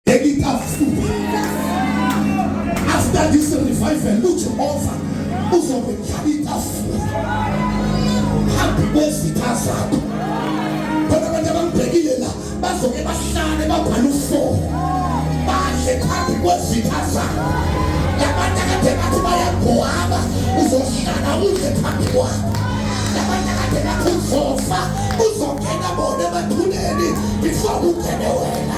engitafuka after this revival ujehova uzobe njalo itafula phambi kwezitha zakho khona abantu abangibhekile la bazoke bahlale babhale ufoo badle phambi kwezitha zakho labantu akade bathi bayagwaba uzohlala udle phambi kwakho labantu akade bathi uzofa uzongena bona emathuneni before ungene wena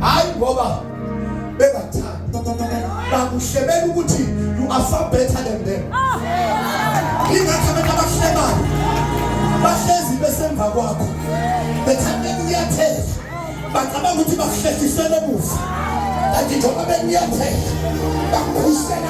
hayi ngoba bengathanda bakuhlebela ukuthi you are far better than them ingathi abantu abahlebayo bahlezi besemva kwakho bethanda uyathela bacabanga ukuthi bakuhlehlisele emuva kanti njengoba benyathela bakukhusela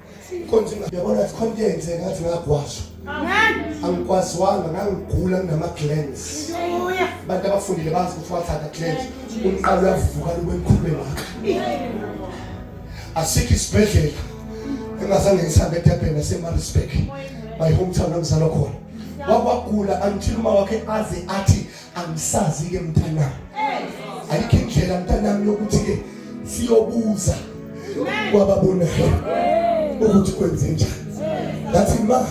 Inkonzo ingabona sikhona yenze ngathi ngagwasha. Angikwaziwanga ngangigula kunama glands. Abantu abafundile bazi ukuthi wathatha glands. Umqalo uyavuka lube mkhulu wakhe. Asikho isibhedlela engazange ngisambe eDurban naseMaritzburg. My hometown ngizalwa khona. Wakwagula until uma wakhe aze athi angisazi ke mntanami ayikho indlela mntanami yokuthi ke siyobuza kwababonayo ukuthi kwenze njani ngathi ma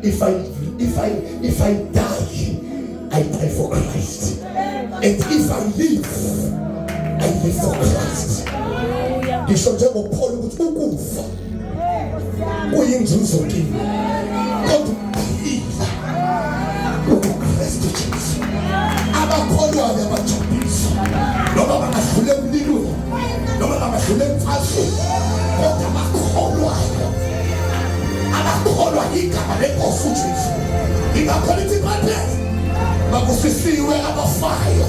if i if i if i die i die for christ and if i live i live for christ ngisho njengopholo ukuthi ukufa kuyinzuzo kimi kodwa phila ubuKristu Jesu abakholwayo abajabulisa noma bangadlula emlilweni noma bangadlula emfazweni kodwa abakholwayo abakholwa igama lenkosi uJesu ingakho lithi baphela bakusisiwe abafayo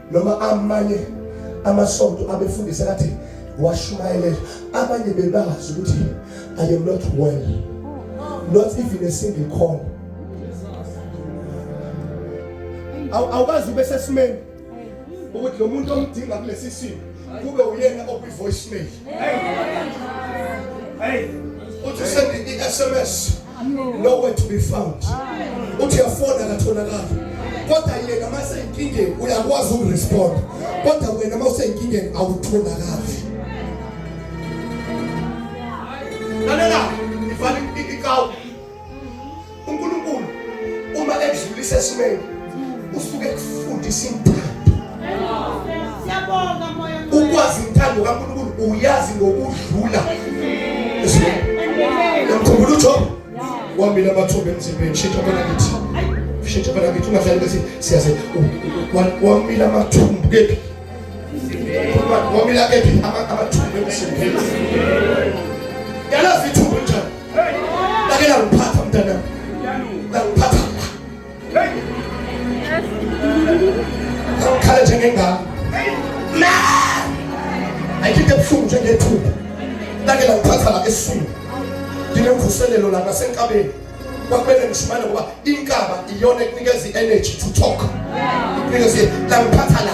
noma amanye amasonto abefundisa kathi washumayelela abanye bebazi ukuthi i am not well not even a single call awukazi ube sesimeni ukuthi lo muntu omdinga kulesi simo kube uyena okwi voicemail hey uthi send i SMS nowhere to be found uthi yafona katholakala kodwa yena mase inkingeni uyakwazi ukurespond kodwa wena mase inkingeni awutholakali lalela ifani ikawu uNkulunkulu uma ekudlulisa esimeni usuke kufundisa intando siyabonga moya ukwazi intando kaNkulunkulu uyazi ngokudlula esimeni namkhumbula uJob wamile amathuba emzimbeni shitha phela kithi shitha phela kithi ungahlali bese siyaze wamile amathumbu kephi wamila kephi amathumbu emzimbeni yalazi Lakela ngiphatha mntana. Ngiphatha. Ngikhala njengengane. Ma! Ayikho ebuhlungu njengethumba. Lakela ngiphatha la esiswini. Nginemvuselelo la nasenkabeni. kwakumele ngishimane ngoba inkaba iyona ekunikeza i-energy to talk ikunikeza la ngiphatha la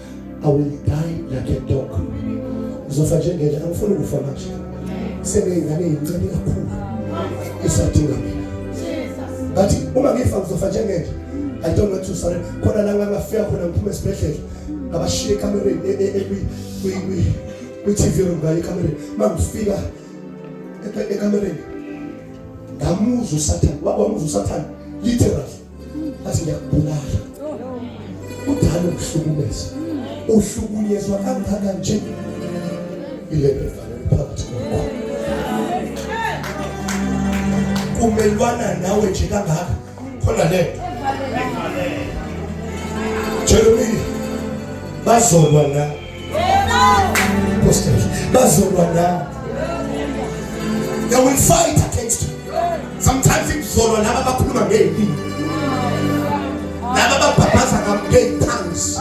I will die like a dog ngizofa njengele angifuni ukufa manje sebeyingane yincane kakhulu isadinga mina bathi uma ngifa ngizofa njengele I don't want to sorry khona la ngangafika khona ngiphuma esibhedlela ngabashiya ekamereni e, e, e, kwi-tv room ngayo ekamereni uma ngifika ekamereni ngamuzwa usathane wamuzwa usathane literally Bathi ngiyakubulala. Udala ukuhlukumeza. Uhlukunyezwa kangaka nje. Ile befana phakathi kwakho. Kumelwana nawe nje kangaka. Khona le. Jeremy bazolwa nawe. bazolwa nawe they will fight against you sometimes ikuzolwa laba abakhuluma ngey'mpilo laba ababhabhaza ngey'phansi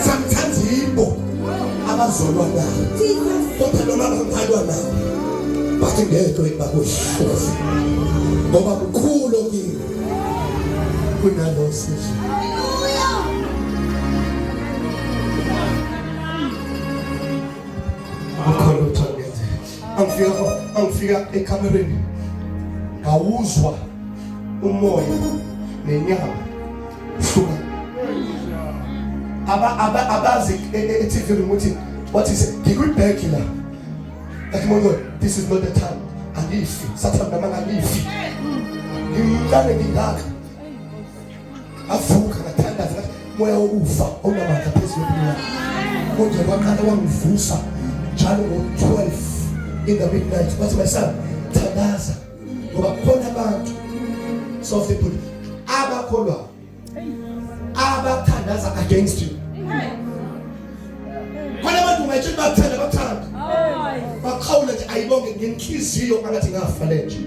sometimes yibo abazolwa nawe kodwa noma bangalwa nawe bathi ngeke bakuhluze ngoba kukhulu okini kunalosizwe Akhona uthangenze. Angifika angifika ekamereni. Ngawuzwa umoya nenyama hluka. Aba aba abazi e, e, e TV ukuthi what is it? Ngikwi bag la. Like my God, this is not the time. Angifi. Sathana mama angifi. Ngimncane ngingaka. avuka ngathandaza ngathi moya wokufa onamandla phezu kwempilo yami konje kwaqala wangivusa njalo ngo-12 in the midnight wathi my son thandaza ngoba kukhona abantu soft people abakholwayo abathandaza against you Kwalabantu ungayitshela bakuthanda bakuthanda. Bakhawula nje ayibonge ngenhliziyo angathi ngafa lenje.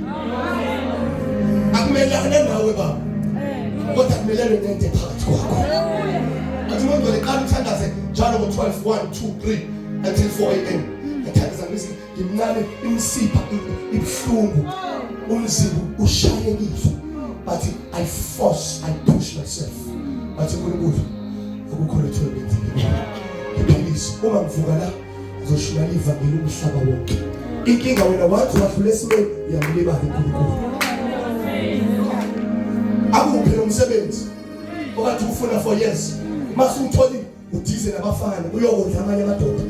Akumelane nawe baba. Kodwa kumelane nento phakathi kwakho. Athi umuntu leqala uthandaze njalo ngo 12 1 2 3 until 4 am. Athandaza ngisi ngimncane imsipha ibuhlungu umzimba ushayekile but i force i push myself but uNkulunkulu ukukhona ithuba lenzile ngiphilise uma ngivuka la ngizoshumayela ivangeli umhlaba wonke inkinga wena wathi wadlula esimeni uyamlibala uNkulunkulu akuphe umsebenzi okade ufuna for years mase utholile udize nabafana uyokondla amanye amadoda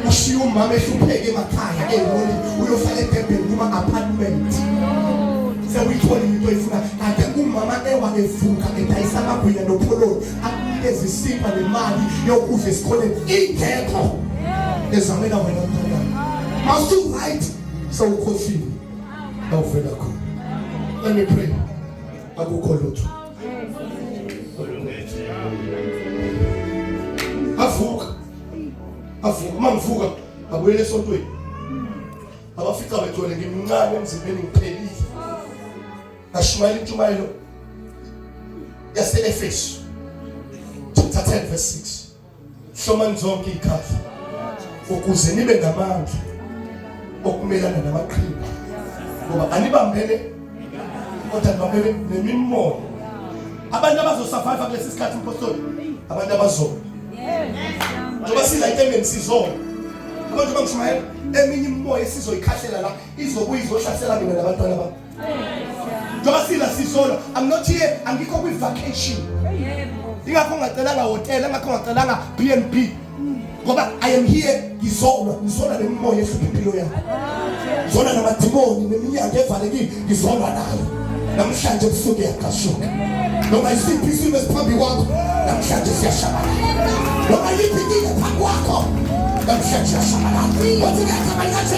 ushiye umama ehlupheke emakhaya eholi uyofaka edebheni kuma-apartment sewuyithola into oyifuna kade umama ewa evuka edayisa amagwinya nopholoni akunikeza isipa nemali yokudla esikoleni ingekho ezamela wena mntana masuwright sewukhohlile awuvela khona let me pray akukho lutho avuka avuka uma ngivuka abuyele esontweni abafica bethole ngimncane emzimbeni ngiphelile ashumayela intshumayelo yase-efesu chapter 10 verse 6 hlomani zonke iy'khathi ukuze nibe namandla okumelana namaqhinga ngoba anibambene kodwa nibambene nemimoya abantu abazosurvive kulesi sikhathi mpostoli abantu abazona njengoba silayite engeni sizona abantu bangishumayela eminye imimoya esizoyikhahlela la izobuye izohlasela mina nabantwana bami Dosila sisolo. I'm not here. Angikho kwi vacation. Ingakho ngacelanga hotel, ingakho ngacelanga BNB. Ngoba I am here ngizolwa, ngizolwa nemimoya ehlupha impilo yami. Ngizolwa namadimoni neminyango evalekile, ngizolwa nayo. Namhlanje kusuke yaqashuka. Noma isiphi isimo esiphambi kwakho, namhlanje siyashabalala. Noma yiphi into phambi kwakho, namhlanje siyashabalala. Wathi ngiyacabanga nje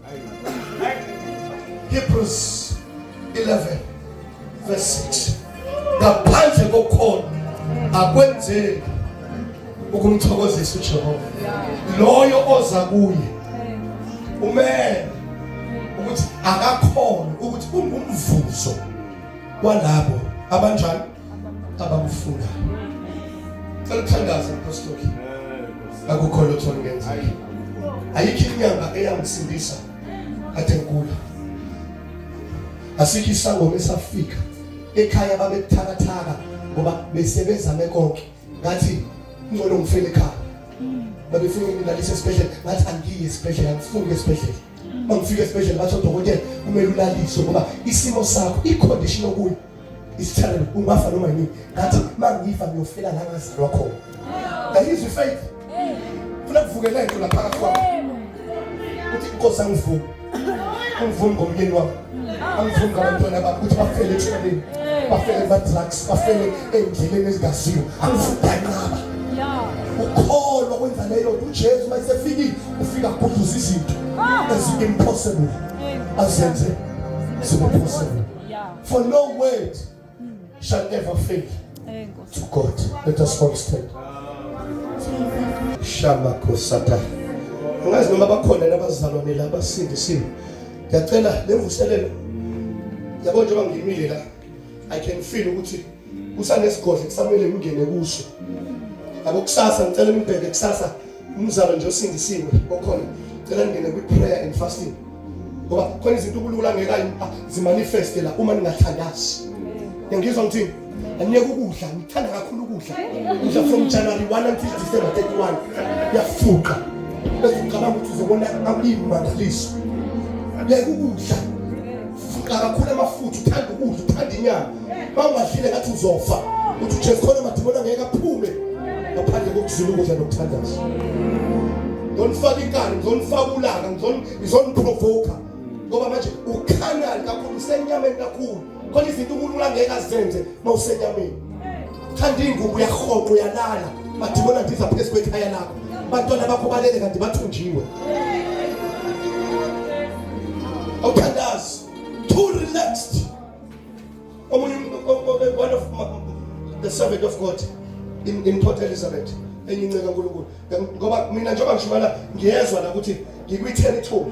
Hebrews 11 verse 6 ngaphandle kokhona akwenzeki ukumthokozisa uJehova loyo oza kuye umele ukuthi akakhona ukuthi ungumvuzo walabo abanjani abamfuna cela uthandaze apostoli akukho lutho olungenzeki ayikho inyanga eyangisindisa kade ngigula asikho isangoma esafika ekhaya babekuthakathaka ngoba besebezame konke ngathi ngcono ngifele ekhaya babefuna ngilalise esibhedlela ngathi angiyi esibhedlela ngifuni esibhedlela mangifika esibhedlela batho dokotela kumele ulaliswe ngoba isimo sakho icondition okuyo isithelo ungafa noma yini ngathi mangifa ngiyofela la ngazalwa khona ngayizwa ifaith funa kuvukeleke into lapha kwami uthi inkosi angivume angivume ngomyeni wami angivume ngabantwana bami ukuthi bafele etshwaleni bafele badrugs bafele endleleni ezingaziwa angivume nganqaba ukholwa kwenza leyo nto ujesu uma esefikile ufika agudluza izinto ezinto impossible azenze zibe possible Yeah. For no word mm. shall ever fail to God. Let us all stand. Shama kosata. Ngazi noma bakhona nabazalwane la basindisiwe. Ngiyacela levuselelo. Yabo njengoba ngimile la I can feel ukuthi kusanesigodlo kusamele ngingene kuso yabo kusasa ngicela nibheke kusasa umzalo nje osindisiwe okhona cela ningene kwi-prayer and fasting ngoba khona izinto ukulula ngeka ah, zimanifeste la uma ningathandazi ngiyangizwa ngithini angiyeke ukudla ngithanda kakhulu ukudla ngidla from january 1 until december 31 yafuqa bese ngicabanga ukuthi uzobona akulimi mandaliso yeke ukudla fuqa kakhulu amafutha uthanda ukudla uthanda inyama bawubahlile ngathi uzofa uthi ujesu khona madimoni angeke aphume ngaphandle kokuzula ukudla nokuthandaza ngizonifaka inkani ngizonifaka ulaka ngizoniprovokha ngoba manje ukhanani kakhulu usenyameni kakhulu khona izinto unkulunkulu angeke azenze uma usenyameni khanda iy'ngubo uyarhoqa uyalala madimoni andiza phezu kwekhaya lakho abantwana bakho balele kanti bathunjiwe awuthandazi too relaxed omunye one of the servant of God in, in Port Elizabeth enye inceka kaNkulunkulu ngoba mina njengoba ngishumana ngiyezwa la ukuthi ngikwi territory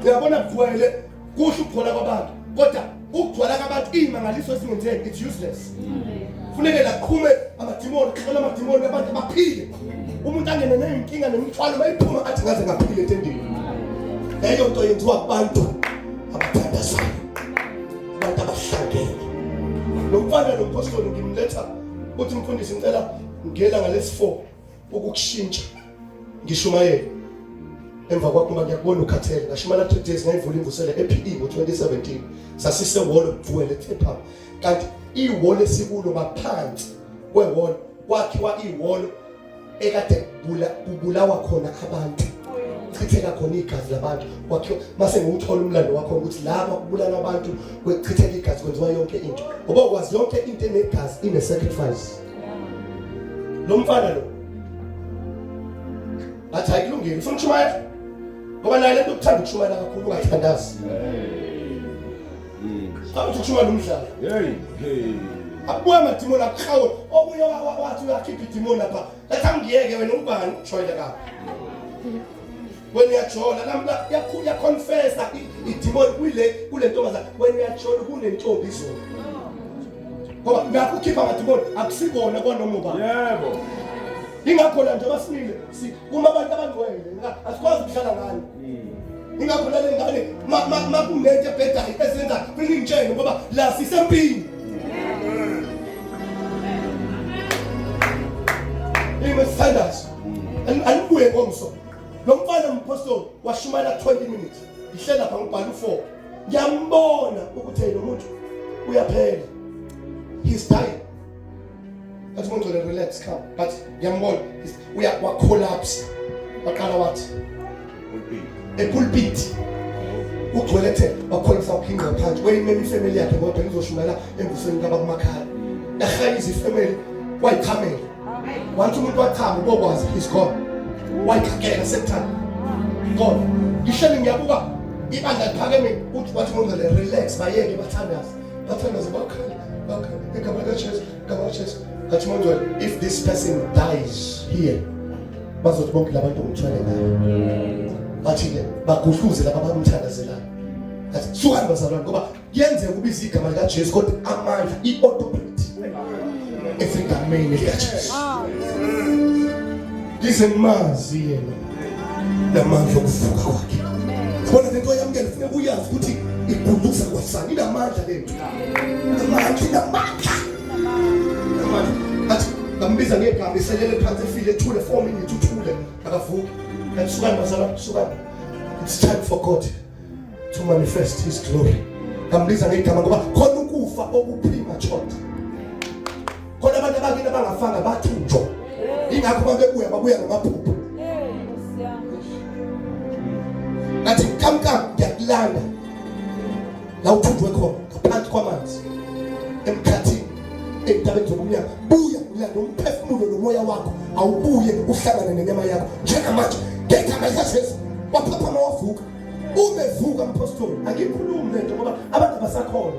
uyabona kuvele kuhle ukugcwala kwabantu kodwa ukugcwala kwabantu imangaliso esingenzeki it's useless funeke laqhume amadimoni kuhlola amadimoni abantu baphile umuntu angene neyinkinga nemithwalo bayiphuma athi ngaze ngaphile etendeni leyo nto yenziwa kubantu abathandazayo abantu abahlangene lo mfana lo mpostoli ngimletha uthi mfundisi ngicela ngela ngalesi 4 ukukushintsha ngishumayele emva kwakho uma ngiyakubona ukhathele ngashimana 3 days ngayivula imvusela ePE ngo-2017 sasise wall duel ethepha kanti iwall esikulo baphansi kwewall kwakhiwa iwall ekade kubulawa khona abantu kuchitheka khona igazi labantu kwakhiwa mase ngiwuthola umlando wakho ukuthi laba kubulala abantu kwechitheka igazi kwenziwa yonke into ngoba ukwazi yonke into enegazi ine sacrifice lo mfana lo athi ayikulungile ufuna ukushumayela ngoba naye lento ukuthanda ukushumayela kakhulu ungathandazi Awuthi kushuka lo mdlalo. Hey, hey. Abuya amadimoni akuhawe. Omunye wathi uyakhipha idimoni lapha. Letha ngiyeke wena ubani ujoyile ka. Wena uyajola namla yakhulu yaconfessa idimoni kule kule ntombazana. Wena uyajola kunentombi izolo. Ngoba nakho ukhipha amadimoni akusikona kwanoma ubani. Yebo. Ingakho la njengoba simile uma abantu abangcwele asikwazi ukuhlala ngani. ingakho lale ngane makunento ebhedayo ezenza funa ingitshele ngoba la sisempini ime sithandazo anibuye ngomso lo mfana umpostoli washumayela 20 minutes ihlela pha ngibhala u4 ngiyambona ukuthi lo muntu uyaphela he's dying That's going to relax, come. But Yamon, we are what collapse. Bakala what? A pulpit. Uthwelete bakholisa ukhinqa phansi. Weyimele ifamily yakhe kodwa ngizoshumela embusweni kabakumakhala. Ehayisa ifamily wayichamela. Wathi umuntu wachama ubokwazi he's gone. Wayichamela sekuthanda. Kodwa ngihleli ngiyabuka ibandla liphakeme uthi wathi ngizole relax bayeke bathandaze. bathandaze bakhale bakhale igama likajesu igama likajesu ngathi mangcwele if this person dies here bazothi bonke labantu ngithwele ngayo bathi-ke bagudluze laba bamthandazelayo athi suhani bazalwane ngoba kuyenzeka ubiza igama likajesu kodwa amandla i-autopilot esegameni likajesu ngize ngimazi yena namandla okuvuka kwakhe khona lento yamukele funa kuyazi ukuthi igunduza kwasani inamandla lento namandla inamandla namandla athi ngambiza ngegama iselele phansi efile ethule for me ngithi uthule akavuki kanti sukani bazala sukani it's time for God to manifest his glory ngambiza ngegama ngoba khona ukufa okuphima chonto khona abantu abakini abangafanga bathunjwa ingakho babebuya babuya ngamaphupho ngathi kamkam ngiyakulanda la uthunjwe khona ngaphansi kwamanzi emkhathini entabeni zobumnyama buya ulanda umphefumulo nomoya wakho awubuye uhlangane nenyama yakho njengamanje ngegama likajesu waphaphama wavuka umevuka mphostoli angikhulumi lento ngoba abantu abasakhona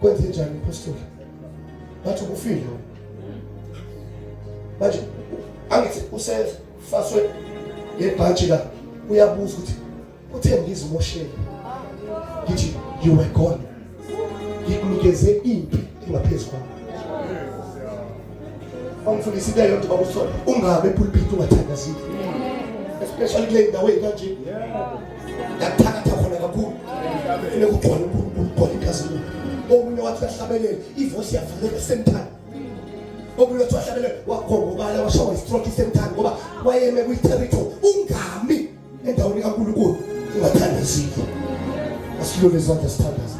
kwenze njani umphostoli ngathi ukufile manje angithi usefaswe ngebhantshi la uyabuza ukuthi uthe ngizimoshele ngithi you were gone ngikunikeze impi engaphezu kwami bamfundisa into yonke bakusola ungabe pulpit ungathandazile especially kule ndawo ekanje Yakuthakatha khona kakhulu. Ufuna ukugcwala uNkulunkulu ugcwala inkazimulo. Omunye wathi uyahlabelela, ivoice yavaleka same time. Omunye wathi uyahlabelela wakhona ubala washawa istroke same time ngoba wayeme kwi territory ungami endaweni kaNkulunkulu ungathandazile. Asilule izandla sithandaze.